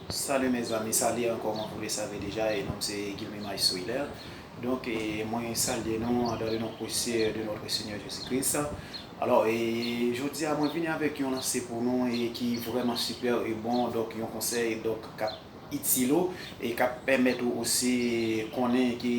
Salut mes amis salye ankò mwen vou le save deja e nom se Guilmy Maes Willer donk e mwen salye nou andan le non presye de notre Seigneur Jésus Christ alò e jodia mwen vini avèk yon lanse pou nou e ki vrèman super e bon donk yon konsèy donk kap itil ou e kap pèmèt ou osi konnen ki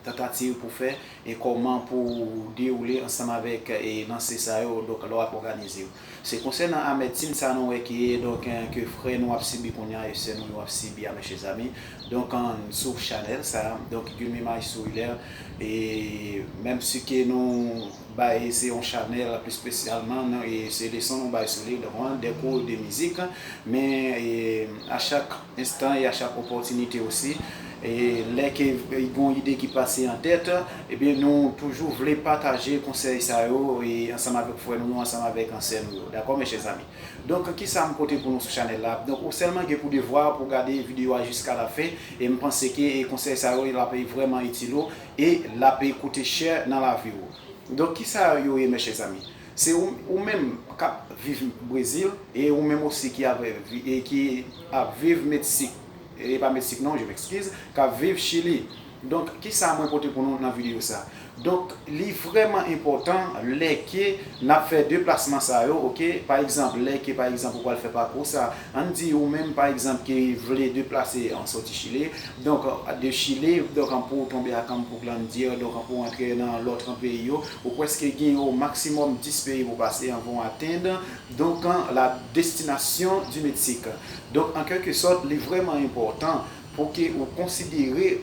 tantativ pou fè e kòman pou dewoule ansanm avèk e lanse sa yo donk lè wap òganize. Se konsènan amètin sa nou wè ke donk ke frè nou ap sibi kounya e sè nou yo ap sibi a men chèzami donk sou chanèl sa donk youn mimaj sou Hilaire e menm si ke nou bay se yon chanèl pli spesyalman e se leson nou bay sou li donk de kou de mizik men a chak Enstan e a chak opòtinite osi, lè ke y gon ide ki pase an tèt, ebyen nou toujou vle pataje konsèy sa yo ansanm avèk frè nou yo, ansanm avèk sè nou yo. Dakò mes chers amis? Donk ki sa m pote pou nou sou chanèl la? Donk ou sèlman gen pou devwa pou gade videyo a jiska lafen e m panse ke konsèy sa yo l ap vrèman itil ou e l ap koute chè nan lavi ou. Donk ki sa yo ye mes chers amis? Se ou menm kap viv brezil e ou menm osi ki ap ki ap viv meksik e pa meksik non je mexkiz kap viv chili donk kisa mwen pote pou nou nan video sa donk li vreman enpotan lè ke nap fè deplasman sa yo ok pa egzanp lè ke pa egzanp ou pwal fè pakou sa Ann di ou menm pa egzanp ki vle deplase an soti Chile, donk de Chile, donk an pou ou tonbe ak an pou Glandier, donk an pou ou antre nan lòt peyi yo, ou pwèske gen o maksimòm 10 peyi pou pase anvan ou atenn, donk la destinasyon di Meksik. Donk an kèlke sòt li vrèman enpòtan. Pou ke ou konsidere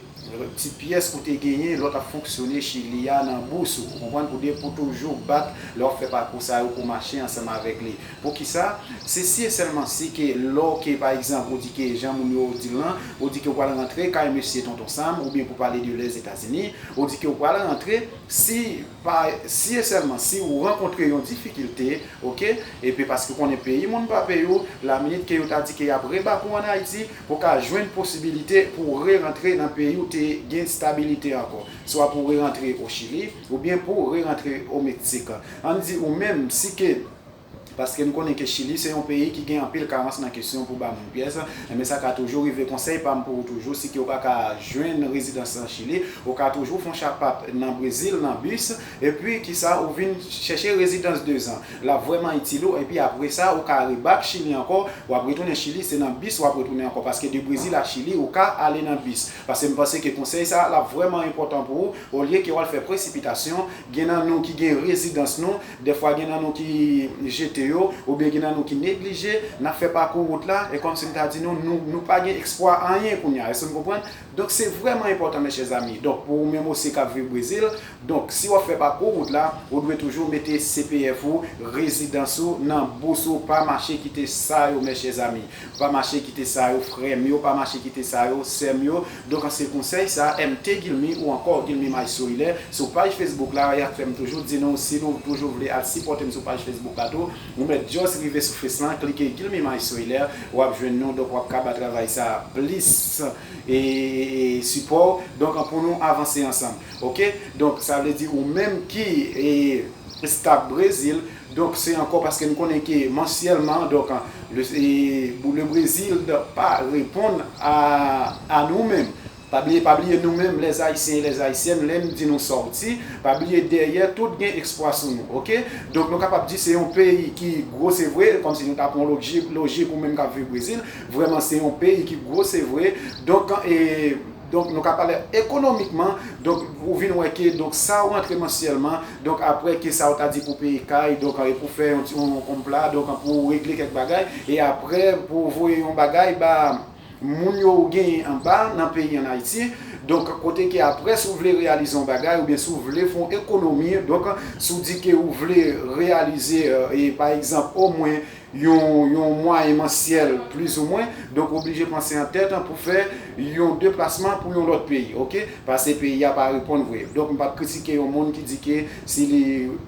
ti pyès ou te genyen lè w t ap fonksyone Chili a nan bous ou. Ou konprann? Pou de pou toujou bat lè w ap fè pakou sa yo pou w mache ansanm avèk li. Pou ki sa? Se si e sèlman si ke lè w ke pa egzanp ou di ke jan moun yo di l lan, ou di ke ou pral rantre kay mesye Tonton Sam oubyen pou pale de Lèzetazini, ou di ke ou pral rantre, si pa si e sèlman si ou rankontre yon difikilte, oke, epi paske ou konnen peyi moun pa peyi w, laminit ke yo ta di ke y ap rebak ou an Ayiti, Ou ka jwenn posibilite pou w re-rantre nan peyi ou te gen stabilite ankò, swa pou w re-rantre o Chili, oubyen pou w re-rantre o Meksik. An n di ou menm si ke, paske n konnen ke Chili se yon peyi ki gen anpil karans nan kesyon pou ba moun pyès, enben sa ka toujou rive, konsèy pa m pou ou toujou, si ke ou pa ka jwenn rezidans nan Chili, ou ka toujou fon chapap nan Brezil, nan bis, epi kisa ou vin chèche rezidans dezan. Lap vrèman itil ou epi apresa ou ka rebak chili ankò wap retounen chili se nan bis wap retounen ankò paske de brezil a chili ou ka ale nan bis pase m panse ke konsèy sa lap vrèman enpòtan pou ou olye ke wal fè presipitasyon gen nan nou ki gen rezidans nou dèfwa gen nan nou ki jete yo oubyen gen nan nou ki neglije nap fè pakou wout la e kòmsi m ta di nou nou nou pa gen ekspwa anyen kounya èske nou konprann Donk se vrèman enpòtan mes chers amis donk pou ou menm osi kap viv Brezil donk si wap fè pakou wout la ou dwe toujou mete CPF ou rezidans ou nan bous ou pa mache kite sa yo mes chers amis pa mache kite sa yo frèm yo pa mache kite sa yo sèm yo donk an se konsèy sa MT Guilmy ou ankò Guilmy Maj Sourilè sou paj Facebook la yap fèm toujou di nou si nou toujou vle al sipòtem sou paj Facebook la tou Ou mèt just rive sou face lan klike Guilm Image sou Hilaire wap jwenn nou donk wap ka ba travay sa plis support donk pou nou avanse ansanm ok donk sa vle di ou menm ki staf Brazil donk se ankò paske nou konnen ke mansyèlman donk le Brazil pa reponn a nou menm. Pa bliye pa bliye nou menm les Haïtiens et les Haïtiennes lèn di nou sòti pa bliye dèyè tout gen ekspwa sou nou ok donk nou kapab di se yon peyi ki gwo se vre kòmsi nou ta pran logjik lojik ou menm kap viv Brésil vrèman se yon peyi ki gwo se vre donk e donk nou ka pale ekonomikman donk ou vin wè ke donk sa ou rantre mansyèlman donk aprè ke sa ou ta di pou peye kay donk e pou fè yon ti yon pla donk pou regle kèk bagay e aprè pou voye yon bagay ba moun yo ou genyen anba nan peyi an Ayiti, donk kote ke aprè si w vle reyalize yon bagay oubyen si w vle fè yon ekonomi, donk si w di ke ou vle reyalize pa egzanp omwen yon yon mwayen mansyèl plizoumwen, donk ou oblije panse an tèt pou w fè yon deplasman pou yon lòt peyi, ok, pase peyi a pa reponn vre, donk m p ap kritike yon moun ki di ke Si li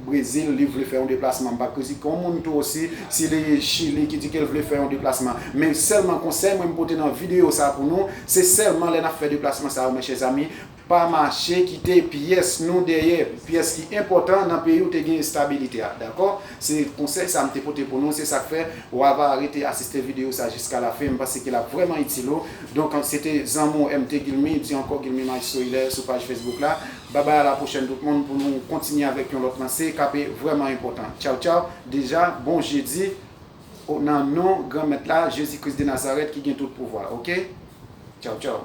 Brezil li vle fè yon deplasman m pa kritike yon moun tou osi si li Chili ki di ke l vle fè yon deplasman. Men sèlman konsèy mwen m pote nan videyo sa pou nou, se sèlman lè n ap fè deplasman sa yo mes chers amis, pa mache kite pyès nou dèyè, pyès ki enpòtan nan peyi w te gen estabilite a. Dakò? Se konsèy sa m te pote pou nou, se sa k fè w ava rete asiste videyo sa jiska la fen, m panse ke l ap vrèman itil ou. Donk se te zanmi w MT Guilmy, di ankò Guilmy Maestro Hilaire sou paj Facebook la. Bye bye a la pwochèn tout moun pou nou kontinye avèk yon lòt lanse kap vrèman enpòtan tchaw tchaw deja bon jedi o nan non gran mèt la jezi kris de nazarèt ki gen tout pouvwa ok tchaw tchaw.